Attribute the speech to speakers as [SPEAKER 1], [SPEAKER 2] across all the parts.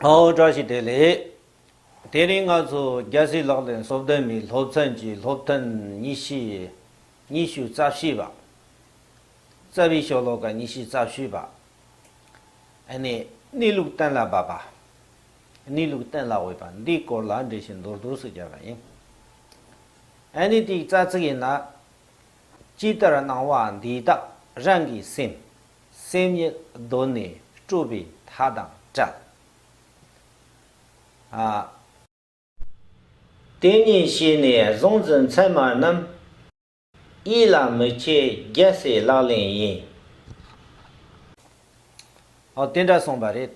[SPEAKER 1] ཨོའོ་བཀྲ་ཤིས་བདེ་ལེགས། དེ་རིང་ང་ཚོ་རྒྱལ་སྲིད་ལག་ལེན་གསོ་བདེ་མིའི་སློབ་ཚན་གྱི་སློབ་ཐུན་ཉི་ཤུ་ཉི་ཤུ་རྩ་བཞི་པ། རྩ་བའི་ཤོ་ལོ་ཀ་ཉི་ཤུ་རྩ་བཞི་པ། ཨནི་གནས་ལུགས་གཏན་ལ་དབབ་པ། གནས་ལུགས་གཏན་ལ་དབུལ་བ་འདིའི་སྐོར་ལ་འགྲེལ་བཤད་མདོར་བསྡུས་སུ་བརྒྱབ་པ་ཡིན། ཨནི་དེའི་རྩ་ཚིག་ཡིན་ན། ཅི་ལྟར་སྣང་བ་འདི་དག་རང་གིས་སེམས། སེམས་ཉིད་གདོད་ནས་སྤྲོས་པའི་མཐའ་དང་བྲལ། དེ་ཉིད་ཤེས་ནས་གཟུང་འཛིན་མཚན་མ་རྣམས། ཡིད་ལ་མི་སྐྱེ་རྒྱལ་སྲས་ལག་ལེན་ཡིན། དེ་འདྲ་གསུངས་པ་རེད།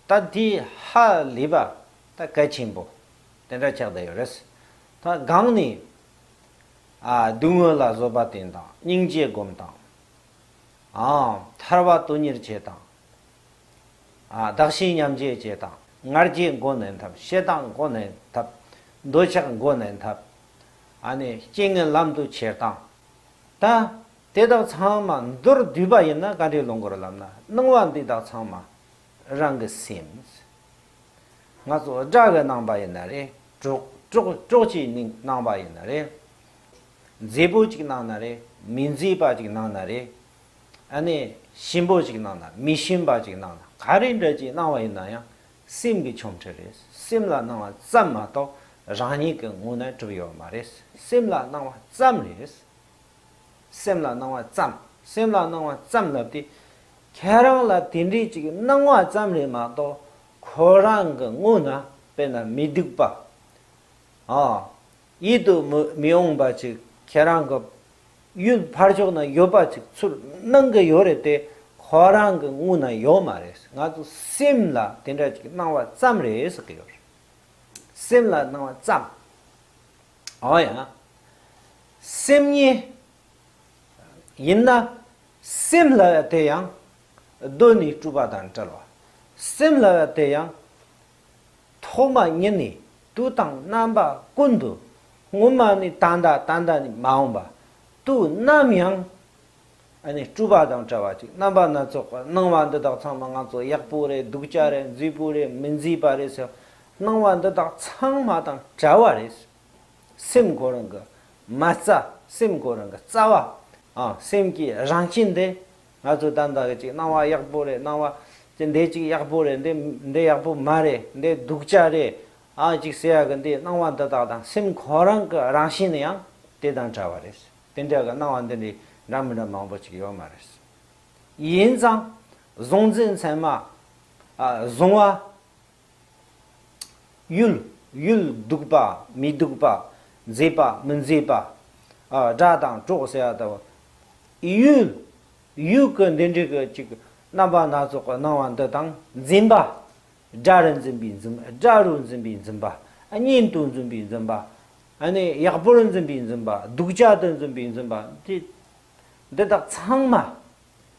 [SPEAKER 1] ད་དེའི་ཧ་ལས་པ་ད་གལ་ཆེན་པོ་དེ་འདྲ་ཆགས་བསྡད་ཡོད་རེད། ད་སྒང་ནས་བསྡུ་དངོས་ལ་བཟོད་པ་བསྟེན་དང་སྙིང་རྗེ་བསྒོམ་དང། ཐར་བ་དོན་གཉེར་བྱེད་དང། བདག་གཞན་མཉམ་བརྗེ་བྱེད་དང་ངར་རྒྱས་མགོ་ནན་ཐབས་བཤད་སྟངས་མགོ་ནན་ཐབས། འདོད་ཆགས་མགོ་ནན་ཐབས། རྐྱེན་ངན་ལམ་དུ་ཁྱེར་སྟངས། ད་དེ་དག་ཚང་མ་མདོར་བསྡུས་པ་ཡིན་ན་བཀའ་འགྲེལ་ལོ་འགོར་ལམ་ན་སྣང་བ་འདི་དག་ཚང་མ་རང་གི་སེམས། ང་ཚོ་དགྲ་གི་རྣམ་པ་ཡིན་ན་རེད་གྲོགས་གྲོགས་ཀྱི་རྣམ་པ་ཡིན་ན་རེད། མཛེས་པོ་ཅིག་གནང་ན་རེད་མི་མཛེས་པ་ཅིག་གནང་ན་རེད། ཨ་ནེ་ཞིམ་པོ་ཅིག་གནང་ན་མི་ཞིམ་པ་ཅིག་གནང་ན་ག་རེ་འདྲ་ཅིག་གནང་བ་ཡིན་ན་ཡང་སེམས་ཀྱི་ཆོམ་ཁྲི་རེད་སེམས་ལ་གནང་བ་ཙམ་མ་གཏོགས་རང་ཉིད་ཀྱི་ངོ་ནས་གྲུབ་ཡོད་མ་རེད་སེམས་ལ་གནང་བ་ཙམ་རེད། སེམས་ལ་སྣང་བ་ཙམ། སེམས་ལ་སྣང་བ་ཙམ་ལབ་སྟེ། ཁྱེད་རང་ལ་དེ་འདྲའི་ཅིག་སྣང་བ་ཙམ་ལས་མ་གཏོགས་ཁོ་རང་གི་དངོས་ན་དཔེར་ན་མི་སྡུག་པ། ཨ། ཡིད་དུ་མི་འོང་པ་ཅིག་ཁྱེད་རང་གི་ཡུལ་ཕར་ཕྱོགས་ན་ཡོད་པ་ཅིག་ཚུར་སྣང་གི་ཡོད་རེད་དེ་ཁོ་རང་གི་དངོས་ན་ཡོད་མ་རེད་ང་ཚོ་སེམས་ལ་དེ་འདྲ་ཅིག་སྣང་བ་ཙམ་རེད་ཟེར་གྱི་ཡོད་རེད། སེམས་ལ་སྣང་བ་ཙམ། ཨོ་ཡ། སེམས་ཉིད། ཡིན་ན། སེམས་ལ་བ་དེ་ཡང། གདོད་ནས་སྤྲུལ་པ་དང་བྲལ་བ། སེམས་ལ་བ་དེ་ཡང། ཐོག་མ་ཉིད་ནས་དུས་དང་རྣམ་པ་ཀུན་ཏུ། སྔོན་མ་ནས་ད་ལྟ་ད་ལྟ་ནས་མ་འོངས་པ། དུས་ནམ་ཡང། ཨ་ནི་སྤྲུལ་པ་དང་བྲལ་བ་ཅིག་རྣམ་པ་སྣ་ཚོགས་པར་སྣང་བ་འདི་དག་ཚང་མ་ང་ཚོ་ཡག་པོ་རེད་སྡུག་ཅག་རེད་མཛེས་པོ་རེད་མི་མཛེས་པ་རེད་ཟེར་སྣང་བ་འདི་དག་ཚང་མ་དང་བྲལ་བ་རེད། སེམས་ཁོ་རང་གི་མ་རྩ་སེམས་ཁོ་རང་གི་རྩ་བ། སེམས་ཀྱི་རང་བཞིན་འདི་ང་ཚོ་ད་ལྟ་གི་ཅིག་སྣང་བ་ཡག་པོ་རེད་སྣང་བ་ཅིག་འདི་ཅིག་ཡག་པོ་རེད་འདི་ཡག་པོ་མ་རེད་འདི་སྡུག་ཅག་རེད་ཨ་ཅིག་ཟེར་ཡག་གི་འདི་སྣང་བ་འདི་དག་དང་སེམས་ཁོ་རང་གི་རང་བཞིན་ཡང་དེ་དང་བྲལ་བ་རེད། དེ་འདྲ་གི་སྣང་བ་འདི་འདྲའི་འདྲ་མི་འདྲ་མང་པོ་ཅིག་ཡོད་མ་རེད། ཡིན་ཙང། གཟུང་འཛིན་མཚན་མ། གཟུང་བ། ཡུལ། ཡུལ་སྡུག་པ་མི་སྡུག་པ། མཛེས་པ་མི་མཛེས་པ། སྒྲ་དང་གྲོགས་ཟེར་བ་ལྟ་བུ། ཡུལ། ཡུལ་གྱི་འདི་འདྲའི་གི་ཅིག་རྣམ་པ་སྣ་ཚོགས་ཀྱི་སྣང་བ་འདི་དང་འཛིན་པ། སྒྲ་རུ་འཛིན་པའི་འཛིན་པ། སྒྲ་རུ་འཛིན་པའི་འཛིན་པ། གཉེན་དུ་འཛིན་པའི་འཛིན་པ། ཨ་ནི་ཡག་པོར་འཛིན་པའི་འཛིན་པ་སྡུག་ཅག་ཏུ་འཛིན་པའི་འཛིན་པ། འདི་དག་ཚང་མ་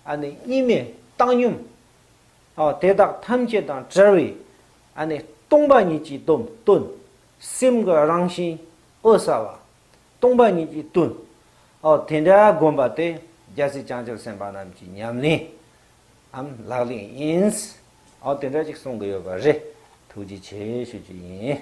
[SPEAKER 1] ཨ་ནི་གཉིས་མེད་བཏང་སྙོམས། དེ་དག་ཐམས་ཅད་དང་བྲལ་བའི་ཨ་ནི་སྟོང་པ་ཉིད་ཀྱི་དོན། སེམས་ཀྱི་རང་བཞིན་འོད་གསལ་བ་སྟོང་པ་ཉིད་ཀྱི་དོན། དེ་འདྲ་བསྒོམས་པ་དེ་རྒྱལ་སྲིད་བྱང་ཆུབ་སེམས་དཔའ་རྣམས་ཀྱི་ཉམས་ལེན་ཨམ་ལག་ལེན་ཡིན། འོ་དེ་འདྲ་ཅིག་གསུང་གི་ཡོད་པ་རེད། ཐུགས་རྗེ་ཆེ་ཞུ་རྒྱུ་ཡིན།